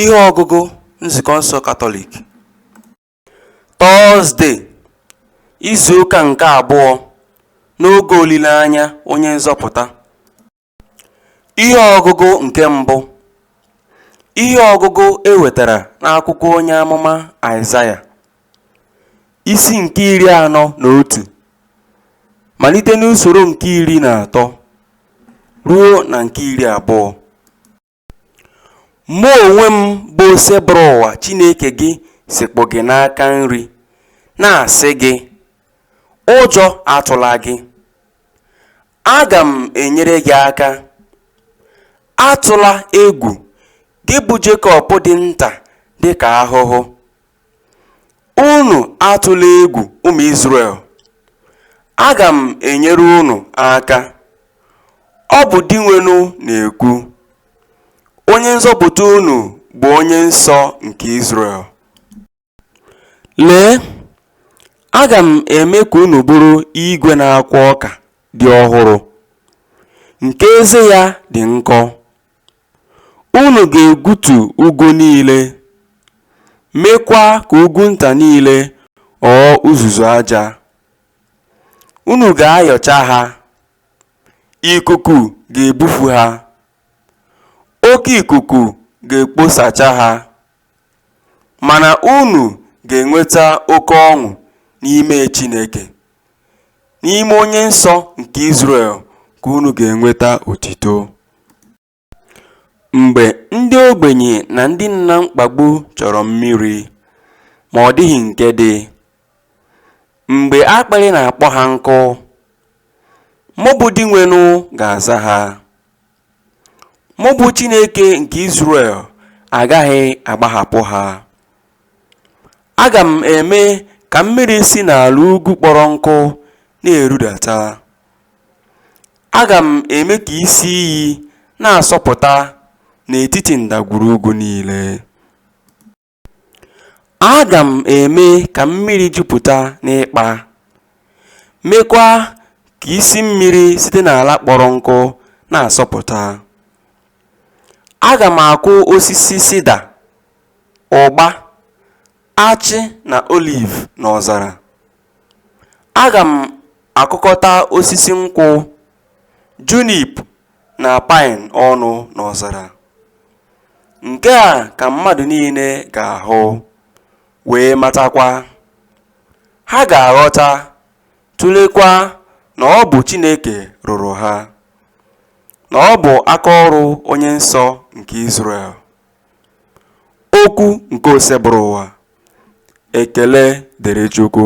Ihe ọgụgụ Nzukọ nsọ Katọlik Tọọzde, izu ụka nke abụọ n'oge olileanya onye nzọpụta. Ihe ọgụgụ nke mbụ Ihe ọgụgụ e wetara n'akwụkwọ onye amụma Aịzaya, isi nke iri anọ na otu, malite n'usoro nke iri na atọ ruo na nke iri abụọ. Mụ onwe m bụ Osebụrụwa Chineke gị sekpụ gị n'aka nri, na-asị gị, Ụjọ atụla gị. Aga m enyere gị aka. Atụla egwu, gị bụ Jekọb dị nta dị ka ahụhụ. Unu atụla egwu, ụmụ Izrel. Aga m enyere unu aka. Ọ bụ Dinwenụ na-ekwu. Onye nzọpụta unu bụ Onye nsọ nke Izrel. Lee, aga m eme ka unu bụrụ igwe na-akwọ ọka dị ọhụrụ, nke eze ya dị nkọ. Unu ga-egbutu ugwu niile, meekwa ka ugwu nta niile ghọọ uzuzu aja. Unu ga-ayọcha ha, ikuku ga-ebufu ha, oke ikuku ga-ekposacha ha. Mana unu ga-enweta oke ọṅụ n'ime Chineke, n'ime Onye Nsọ nke Izrel ka unu ga-enweta otito. Mgbe ndị ogbenye na ndị nọ na mkpagbu chọrọ mmiri, ma ọ dịghị nke dị, mgbe akpịrị na-akpọ ha nkụ, mụ bụ Dinwenụ ga-aza ha. Mụ bụ Chineke nke Izrel agaghị agbahapụ ha. Aga m eme ka mmiri si n'ala ugwu kpọrọ nkụ na-erudata. Aga m eme ka isi iyi na-asọpụta n'etiti ndagwurugwu niile. Aga m eme ka mmiri jupụta n'ịkpa, meekwa ka isi mmiri site n'ala kpọrọ nkụ na-asọpụta. Aga m akụ osisi sida, ụgba, achị na oliv n'ọzara. Aga m akụkọta osisi nkwụ, junip na paịn ọnụ n'ọzara. Nke a ka mmadụ niile ga-ahụ, wee matakwa. Ha ga-aghọta, tụlekwa na ọ bụ Chineke rụrụ ha, na ọ bụ aka ọrụ Onye Nsọ nke Izrel. Okwu nke Osebụrụwa. Ekele dịrị Chukwu.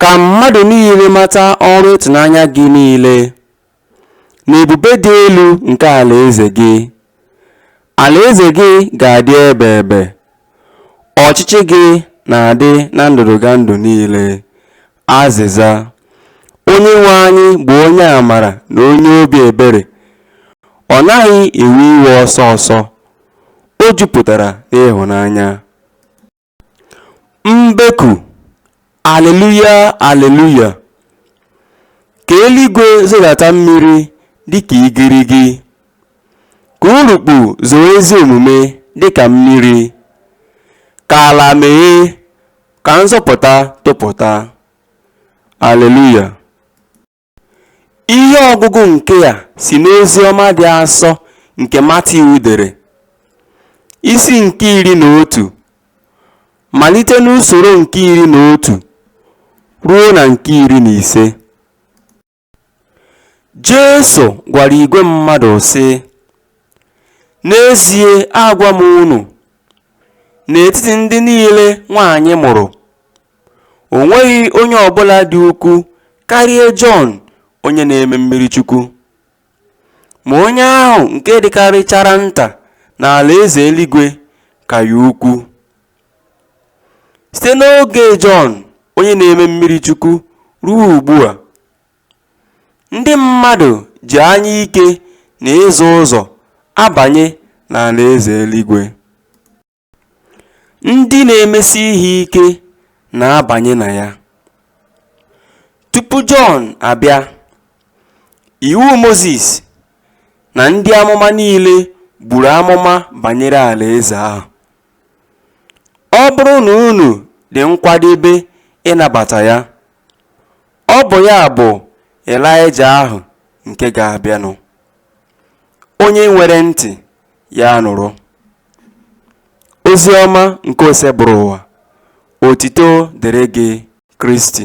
Ka mmadụ niile mata ọrụ ịtụnanya gị niile, na ebube dị elu nke alaeze gị. Alaeze gị ga-adị ebe ebe, ọchịchị gị na-adị na ndụdụgandụ niile. Azịza, Onyenwe anyị bụ onye amara na onye obi ebere, ọ naghị ewe iwe ọsọ ọsọ, o jupụtara n'ịhụnanya. Mbeku, Alleluia, Alleluia! Ka eluigwe zodata mmiri dịka igirigi, ka urukpu zoo ezi omume dịka mmiri, ka ala meghee, ka nzọpụta topụta. Alleluia! Ihe ọgụgụ nke a si n'Oziọma dị asọ nke Matiu dere, isi nke iri na otu, malite n'usoro nke iri na otu ruo na nke iri na ise. Jesu gwara igwe mmadụ sị, N'ezie agwa m unu, n'etiti ndị niile nwaanyị mụrụ, O nweghị onye ọ bụla dị ukwu karịa Jọn onye na-eme mmiri chukwu. Ma onye ahụ nke dịkarịchara nta n'alaeze eluigwe ka ya ukwu. Site n'oge Jọn onye na-eme mmiri chukwu ruo ugbu a, ndị mmadụ ji anya ike na ịzọ ụzọ abanye n'alaeze eluigwe. Ndị na-emesi ihe ike na-abanye na ya. Tupu Jọn abịa, Iwu Mozis na ndị amụma niile buru amụma banyere Alaeze ahụ. Ọ bụrụ na unu dị nkwadebe ịnabata ya, ọ bụ ya bụ Elaịja ahụ nke ga-abịanụ. Onye nwere ntị, Ya nụrụ. Ozi ọma nke Osebụrụwa, otito dịrị gị Kristi.